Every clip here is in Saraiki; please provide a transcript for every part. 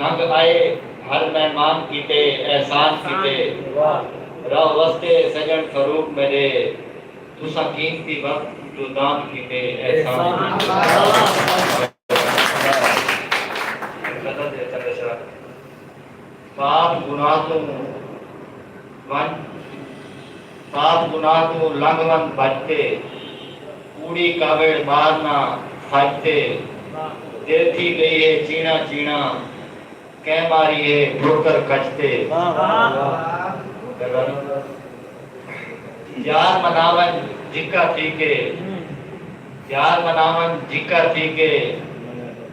سنگ آئے ہر مہمان کیتے احسان کیتے راہ وستے سجن فاروق میڈے تساں قیمتی وقت جو دان کیتے احسان کیتے پاک گناہ توں ونج سات گناہ توں لنگھ ون بھڄ تے۔ کوڑی کاویڑ ٻار نہ سڄ تے۔ دل تھی ڳئی ہے چیݨا چیݨا۔ کئیں ماری ہے ٹھوکر کڄ تے۔ یار منا ونڄ جھکا تھی کے۔ یار منا ونڄ جھکا تھی کے۔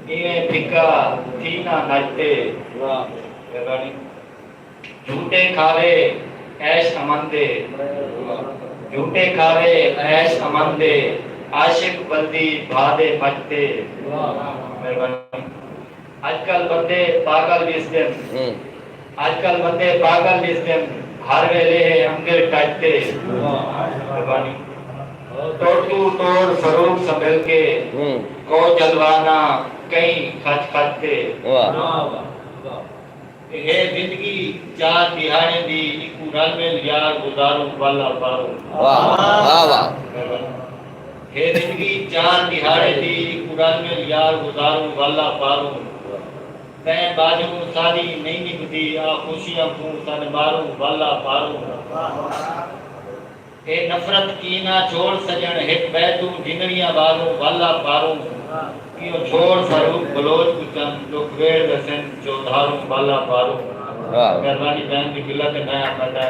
ایویں پھکا تھی نہ نڄ تے۔ جھوٹے کھاوے عیش امن دے جھوٹے کھاوے عیش امن دے عاشق بلدی بھا دے مٹ تے مہربانی اج کل بندے پاگل ڈسدن اج کل بندے پاگل ڈسدن ہر ویلے ہے انگر ٹچ تے مہربانی توڑ تو توڑ فروغ سنبھل کے کو جلوہ نہ کئیں کھچ کھچ تے۔ اے زندگی چار ݙیہاڑیں دی اکوں رل مل یار گزاروں ول اوتاروں۔ اے زندگی چار ݙیہاڑیں دی اکوں رل مل یار گزاروں ول اوتاروں۔ تیں ٻاجھوں ساݙی نئیں نبھدی آ خوشیاں کوں سݙ ماروں ول اوتاروں۔ اے نفرت کینہ چھوڑ سجݨ ہک ٻئے توں ڈھنگڑیاں والوں والا پاروں کیوں چھوڑ فاروق بلوچ کوں چم ڈکھ ویڑھ ویسن چوہدھاروں والا پاروں مہربانی بہن دی ملت ہے میں آکھاں تاں